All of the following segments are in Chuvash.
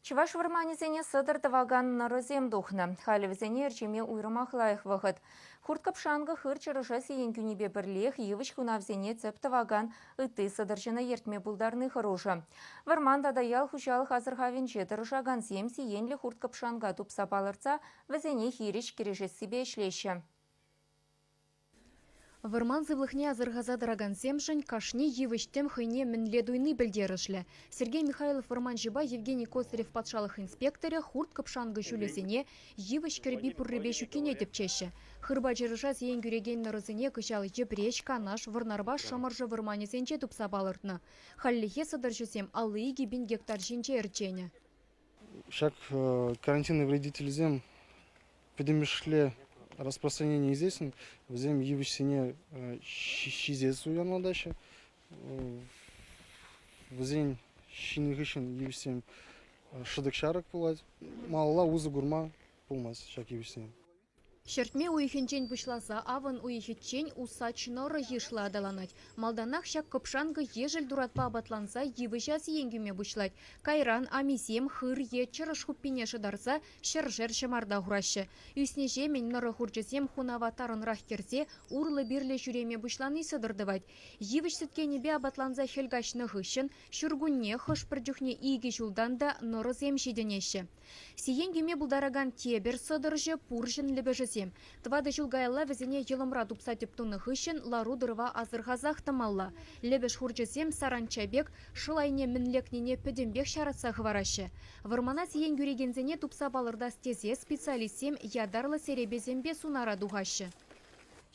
Чӑваш вӑрманӗсене сӑтӑр тӑвакан нӑрӑсем тухнӑ. Халӗ вӗсене ӗрчеме уйрӑмах лайӑх вӑхӑт. Хурт-кӑпшанкӑ хыр чӑрӑша сиен кӳнипе пӗрлех йывӑҫ хунавсене тӗп тӑвакан ытти сӑтӑрҫӑна ертме пултарни хӑрушӑ. Вӑрман тата ял хуҫалӑх асӑрхавӗнче тӑрӑшакансем сиенлӗ хурт-кӑпшанка тупса палӑртса вӗсене хирӗҫ кӗрешессипе ӗҫлеҫҫӗ. Вӑрман сывлӑхне асӑрхаса тӑракансемшӗн кашни йывӑҫ-тӗм хӑйне мӗнле туйни пӗлтерӗшлӗ. Сергей Михайлов вӑрманҫӑпа Евгений Косарев патшалӑх инспекторӗ хурт-кӑпшанкӑ ҫулӗсене йывӑҫ кӗрпи пуррипе ҫуккине тӗпчеҫҫӗ. Хырпа чӑрӑша сиен кӳрекен нӑрӑсене кӑҫал Йӗпреҫ, Канаш, Вӑрнарпа Шӑмӑршӑ вӑрманӗсенче тупса палӑртнӑ. Хальлӗхе сӑтӑрҫӑсем алли икӗ пин гектар ҫинче ӗрченӗ. Ҫак карантинный вредительсем пӗтӗмӗшле распространение ӳсесшӗн, вӗсем йывӑҫсене ҫисе суянлатаҫҫӗ. Вӗсен ҫинӗ хыҫҫӑн йывӑҫсем шӑтӑк-ҫарӑк пулать. Малалла усӑ курма пулмасть ҫак йывӑҫсем. Ҫӗртме уйӑхӗнчен пуҫласа авӑн уйӑхӗччен усач нӑрӑ йышлӑ аталанать. Малтанах ҫак кӑпшанкӑ ешӗл туратпа апатланса йывӑҫа сиен кӳме пуҫлать. Кайран амисем хыр е чӑрӑш хуппине шӑтарса ҫӗршер ҫӑмарта хураҫҫӗ. Ӳснӗҫемӗн нӑрӑ хурчӗсем хунава тарӑнрах кӗрсе урлӑ-пирлӗ ҫӳреме пуҫлани сӑтӑр тӑвать. Йывӑҫ сӗткенӗпе апатланса хӗл каҫнӑ хыҫҫӑн ҫуркунне хӑш-пӗр чухне икӗ ҫултан та нӑрӑсем ҫитӗнеҫҫӗ. Сиен кӳме пултаракан тепӗр сӑтӑрҫӑ – пурҫӑн лӗпӗшӗсем. Тӑватӑ ҫул каялла вӗсене йӑлӑмра тупса тӗп тунӑ хыҫҫӑн лару-тӑрӑва асӑрхасах тӑмалла. Лӗпӗш хурчӗсем саранча пек шӑл айне мӗн лекнине пӗтӗмпех ҫаратса хӑвараҫҫӗ. Вӑрмана сиен кӳрекенсене тупса палӑртас тесе специалистсем ятарлӑ серепесемпе сунара тухаҫҫӗ.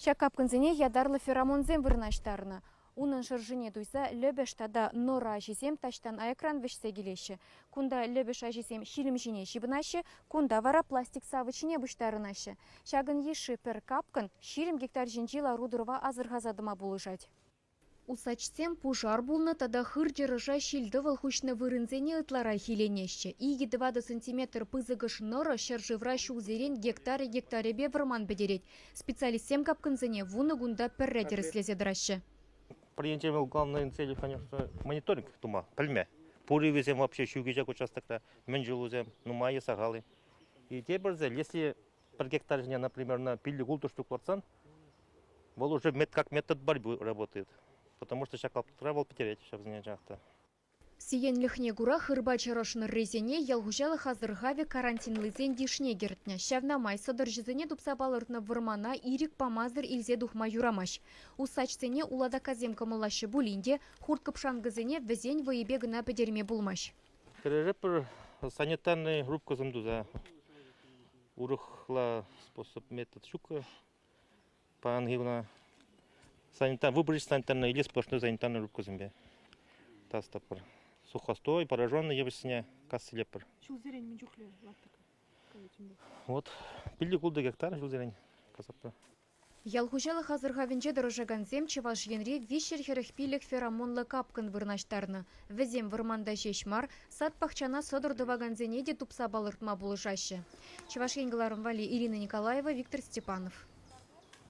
Ҫак капкӑнсене ятарлӑ феромонсем вырнаҫтарнӑ. Унӑн шӑршине туйса Лӗпӗш тата Нора аҫисем таҫтан аякран вӗҫсе килеҫҫӗ. Кунта Лӗпӗш аҫисем ҫилӗм ҫине ҫыпӑнаҫҫӗ, кунта вара пластик савӑтҫине пуҫтарӑнаҫҫӗ. Ҫакӑн йышши пӗр капкӑн ҫирӗм гектар ҫинчи лару-тӑрӑва асӑрхаса тӑма пулӑшать. Усачсем пушар пулнӑ тата хыр чӑрӑша ҫил-тӑвӑл хуҫнӑ вырӑнсене ытларах иленеҫҫӗ. Икӗ-тӑватӑ сантиметр пысӑкӑш нора ҫӗршывра ҫулсерен гектарӗ-гектарӗпе вӑрман пӗтерет. Специалистсем капкӑнсене вунӑ кунта пӗрре тӗрӗслесе тӑраҫҫӗ. Пӗринче вӑл главнӑйӑн цели, конечно, мониторинг тума, пӗлме. Пур ывӑсем вообще ҫӳкеҫак участокра, мӗн ҫулусем нумаййи сахал-и. И тепӗрсе, если пӗр гектар ҫине, например, на пиллӗк ултӑштук лартсан, вӑл уже как метод борьбы работает. Потому что ҫак лаптӑкра вӑл пӗтерет ҫав сенчен та. Сиенлӗхне кура хырпа чӑрӑш нӑррисене ял хуҫалӑх асӑрхавӗ карантинлисен йышне кӗртнӗ. Ҫавна май сӑтӑрҫӑсене тупса палӑртнӑ вӑрмана ирӗк памасӑр илсе тухма юрамасть. Усачсене улатаккасем кӑмӑллаҫҫӗ пулин те хурт-кӑпшанкӑсене вӗсен вӑйӗпе кӑна пӗтерме пулмасть. Кӗрӗре пӗр санитарнӑй рубкӑсем туса урӑхла способ метод ҫук. паянхи куна санитар, выборочная санитарная или сплошной санитарной рубкӑсемпе тасатӑпӑр. Сухостой, пораженный йывӑҫсене кассилеппӗр. Ҫулсерен мӗн чухлӗ лаптӑк Вот пилли култӑ гектар ҫулсерен касаппӑр. Ял хуҫалӑх асӑрхавӗнче тӑрӑшакансем Чӑваш Енре виҫҫӗр хӗрӗх пилӗк феромонла капкӑн вырнаҫтарнӑ. Вӗсем вӑрманта ҫеҫ мар, сад-пахчана сӑтӑр тӑвакансене те тупса палӑртма пулӑшаҫҫӗ. Чӑваш Ен кӑларӑм валли Ирина Николаева, Виктор Степанов.